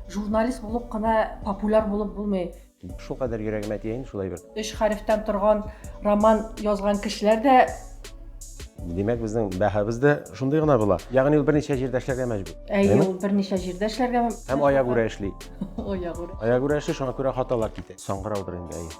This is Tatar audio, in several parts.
Журналист булып кына популяр булып булмый. Шулкадәр йөрәгемә тия инде шулай бер. Өч хәрефтән торган роман язган кешеләр дә Димәк, безнең бәһабез дә шундый гына була. Ягъни ул берничә җирдә эшләргә мәҗбүр. Әйе, ул берничә җирдә эшләргә. Һәм аягүрә эшли. Аягүрә. Аягүрә эшли, шуңа күрә хаталар китә. Саңгыраудыр инде, әйе.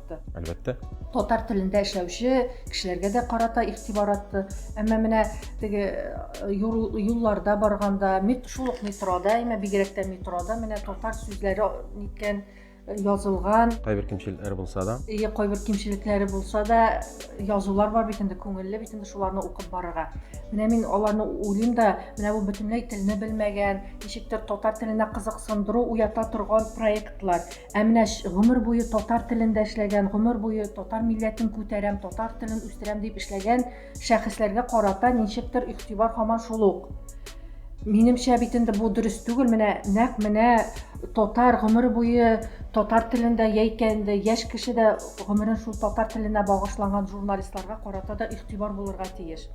кайтты. Әлбәттә. Татар телендә эшләүче кешеләргә дә карата игътибар атты. Әмма менә теге э, юлларда барганда, шул ук метрода, әмма бигрәк тә метрода менә татар сүзләре ниткән язылган кайбер кимчелекләре булса да иә кайбер кимчелекләре булса да язулар бар бит инде күңелле бит инде шуларны укып барырга менә мин аларны уйлыйм да менә бу бөтенләй телне белмәгән ничектер татар теленә кызыксындыру уята торган проектлар Ә менә гомер буе татар телендә эшләгән, гомер буе татар милләтен күтәрәм, татар телен үстерәм дип эшләгән шәхесләргә карата ничектер игътибар һаман шул ук. Минемчә бит инде бу дөрес түгел. Менә нәкъ менә татар гомер буе татар телендә яисә инде яшь кеше дә гомерен шул татар теленә багышланган журналистларга карата да игътибар булырга тиеш.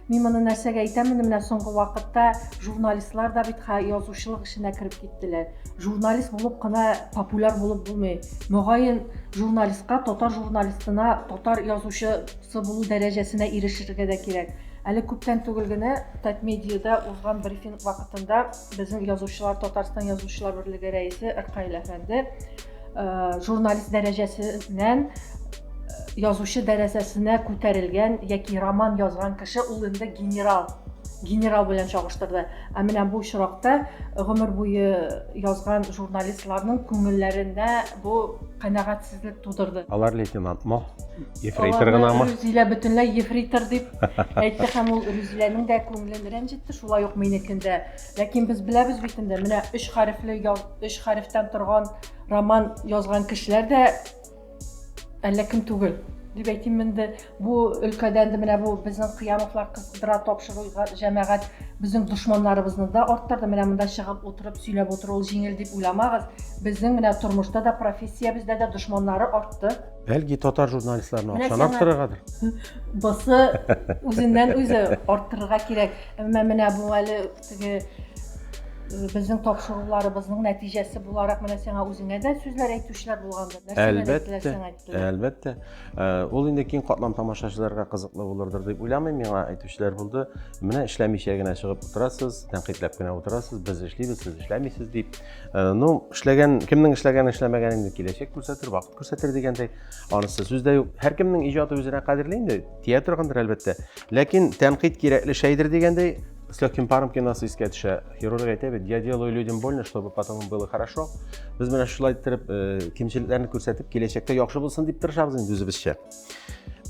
Мин моны нәрсәгә әйтәм инде менә соңгы вакытта журналистлар да бит язучылык эшенә кереп киттеләр. Журналист булып кына популяр булып булмый. Мөгаен, журналистка татар журналистына, татар язучысы булу дәрәҗәсенә ирешергә дә кирәк. Әле күптән түгел генә Татмедиада узган брифинг вакытында безнең язучылар Татарстан язучылар берлеге рәисе Ркаил әфәнде журналист дәрәҗәсеннән язучы дәрәсәсенә күтәрелгән яки роман язган кеше ул инде генерал генерал белән чагыштырды ә менә бу очракта гомер буе язган журналистларның күңелләрендә бу канәгатьсезлек тудырды алар лейтенантмы ефрейтор гынамы рүзилә бөтенләй ефрейтор дип әйтте һәм ул рүзиләнең дә күңелен рәнҗетте шулай ук минекен дә Ләкин без беләбез бит инде, менә өч хәрефле, өч хәрефтән торган роман язган кешеләр дә әллә кем түгел дип әйтим инде бу өлкәдән дә менә бу безнең кыямовлар кыздыра тапшыру җәмәгать безнең дошманнарыбызны да арттырды менә монда чыгып утырып сөйләп утыру ул җиңел дип уйламагыз безнең менә тормышта да профессиябездә дә дошманнары артты Бәлки татар журналистларына Менә акчаны сиңа- арттырыргадыр. Бысы үзеннән үзе арттырырга кирәк. Әмма менә бу әле теге э, безнең тапшыруларыбызның нәтиҗәсе буларак менә сиңа үзеңә дә сүзләр әйтүчеләр булгандыр. Нәрсәләр Әлбәттә, әйттеләр сиңа әйттеләр. Әлбәттә. Э, Ул инде киң катлам тамашачыларга кызыклы булырдыр дип уйламыйм. Миңа әйтүчеләр булды. Менә эшләмичә генә чыгып утырасыз, тәнкыйтьләп кенә утырасыз, без эшлибез, сез эшләмисез дип. Э, Ну, эшләгән, кемнең эшләгән, эшләмәгәнен инде киләчәк күрсәтер, вакыт күрсәтер дигәндәй анысы сүз дә юк һәркемнең иҗаты үзенә кадерле инде тия торгандыр әлбәттә ләкин тәнкыйть кирәкле шәйдер дигәндәй с легким паром киносы искә төшә хирург әйтә бит я делаю людям больно чтобы потом было хорошо без менә шулай иттереп э, кимчелекләрне күрсәтеп киләчәктә яхшы булсын дип тырышабыз инде үзебезчә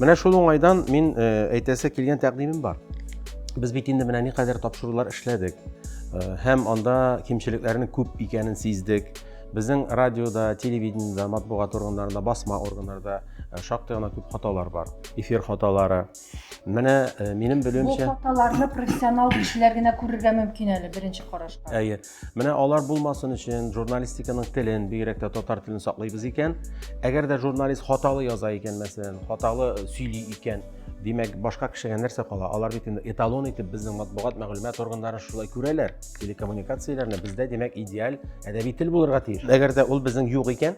Менә шул уңайдан мин әйтәсе килгән тәкъдимем бар. Без бит инде менә никадәр тапшырулар эшләдек. Һәм анда кимчелекләрнең күп икәнен сиздек. Безнең радиода, телевидениедә, матбугат органнарында, басма органнарда шактый гына күп хаталар бар. Эфир хаталары. Менә минем белүемчә... Бу хаталарны профессионал кешеләр генә күрергә мөмкин әле, беренче карашка. Әйе. Менә алар булмасын өчен журналистиканың телен, бигрәк тә татар телен саклыйбыз икән. Әгәр дә журналист хаталы яза икән, мәсәлән, хаталы э, сөйли икән, димәк, башка кешегә нәрсә кала? Алар бит инде эталон итеп безнең матбугат мәгълүмат органнарын шулай күрәләр. Телекоммуникацияләрне бездә, димәк, идеаль әдәби тел булырга тиеш. Әгәр дә ул безнең юк икән,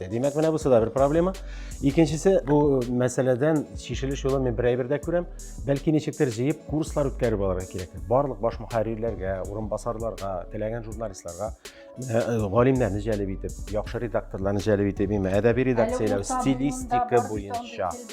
Димәк, менә бусы да бер проблема. Икенчесе, бу мәсьәләдән чишелеш юлы мен бер әйбер дә күрәм. Бәлки ничектер җыеп курслар үткәреп алырга кирәк. Барлык баш мөхәррирләргә, урынбасарларга, теләгән журналистларга э, э, галимнәрне җәлеп итеп, яхшы редакторларны җәлеп итеп, әдәби редакцияләү, стилистика буенча.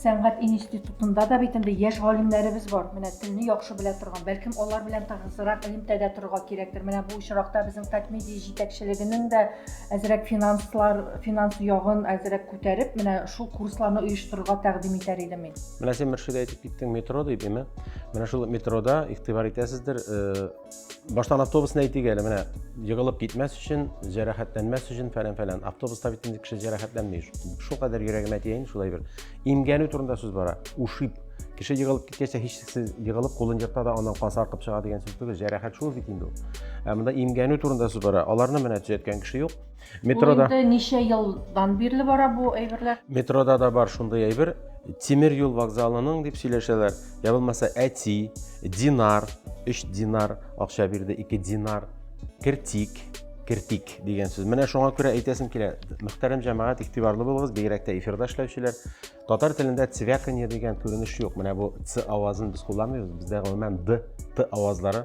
Сәнгать институтында да бит инде яшь галимнәребез бар. Менә телне яхшы белә торган, бәлкем алар белән тыгызрак элемтәдә торырга кирәктер. Менә бу очракта безнең Татмедиа җитәкчелегенең дә әзрәк финанслар, финанс ягын әзрәк күтәреп, менә шул курсларны оештырырга тәкъдим итәр идем мин. Менә син Мөршидә әйтеп киттең метро дип, әйме? Менә шул метрода игътибар итәсездер, э, Баштан автобусны әйтик әле, менә егылып китмәс өчен, җәрәхәтләнмәс өчен фәлән фәлән. Автобуста бит инде кеше җәрәхәтләнми. Шул кадәр йөрәгемә тиен, шулай бер. Имгәнү турында сүз бара. Ушиб. Кеше егылып киткәчә һичшиксез егылып кулын җырта да аннан кан саркып чыга дигән сүз түгел. Җәрәхәт шул бит инде ул. Ә монда имгәнү турында сүз бара. Аларны менә төзәткән кеше юк. Метрода. Ул инде ничә елдан бирле бара бу әйберләр? Метрода да бар шундый әйбер. Тимер юл вокзалының дип сөйләшәләр. Я булмаса әти, динар, 3 динар акча бирде, 2 динар, кертик, кертик дигән сүз. Менә шуңа күрә әйтәсем килә. Мөхтәрәм җәмәгать, игътибарлы булыгыз, бигрәк тә эфирда эшләүчеләр. Татар телендә цвяканье дигән күренеш юк. Менә бу ц авазын без кулланмыйбыз. Бездә гомумән д, т авазлары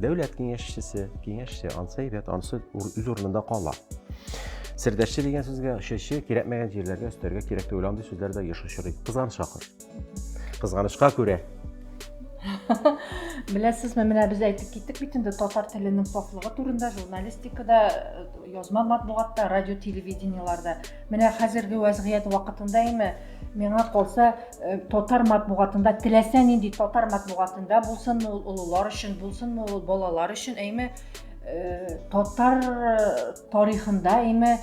Дәүләт киңәшчесе, киңәшче, ансы әйбәт, ансы үз урынында кала. Сердәшче дигән сүзгә шеше кирәкмәгән җирләргә өстәргә кирәк түгел андый сүзләрдә еш очрый. Кызганыч акыр. Кызганычка күрә. Беләсезме, менә без әйтеп киттек бит инде татар теленең сафлыгы турында журналистикада, э, язма матбугатта, радио, телевидениеларда. Менә хәзерге вәзгыять вакытында име миңа калса Э, татар матбугатында теләсә нинди татар матбугатында булсынмы ул олылар өчен булсынмы ул балалар өчен әйме э, татар э, тарихында әйме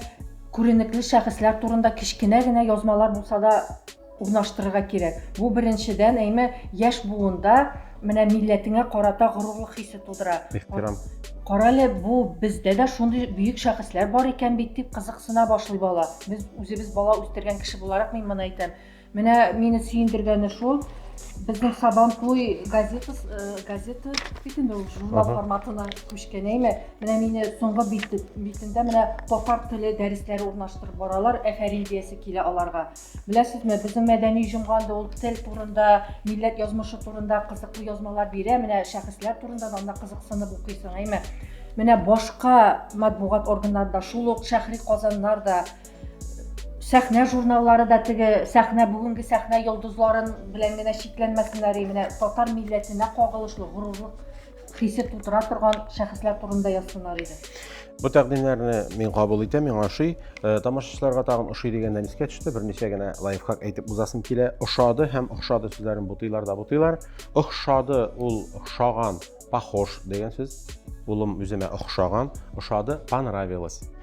күренекле шәхесләр турында кечкенә генә язмалар булса да урнаштырырга кирәк бу беренчедән әйме яшь буында менә милләтеңә карата горурлык хисе тудыра ихтирам карале бу бездә дә шундый бөек шәхесләр бар икән бит дип кызыксына башлый бала без үзебез бала үстергән кеше буларак мин моны әйтәм Менә мине сөендергәне шул, безнең Сабантуй газетасы, э, газета бит инде ул журнал Ага. форматына күчкән әйме. Менә мине соңгы бит- битендә менә татар теле дәресләре урнаштырып баралар, әфәрин диясе килә аларга. Беләсезме, безнең мәдәни җомга инде ул тел турында, милләт язмышы турында кызыклы язмалар бирә, менә шәхесләр турында да анда кызыксынып укыйсың, әйме. Менә башка матбугат органнарында шул ук шәһри Казаннар да сәхнә журналлары да теге сәхнә бүгенге сәхнә йолдызларын белән генә чикләнмәсеннәр менә татар милләтенә кагылышлы горурлык хисе тутыра торган шәхесләр турында язсыннар иде Бу тәкъдимнәрне мин кабул итәм, миңа ошый. Э, тамашачыларга тагын ошый дигәннән искә төште. Берничә генә лайфхак әйтеп узасым килә. Ошады һәм охшады сүзләрен бутыйлар да бутыйлар. Охшады ул охшаган, похож дигән сүз. Улым үземә охшаган, ошады, понравилось.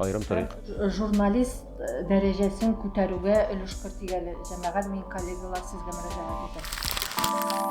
Айрым тарих. Журналист э, дәрәҗәсен күтәрүгә өлеш кертик әле. Җәмәгать мин коллегалар сезгә мөрәҗәгать итәм.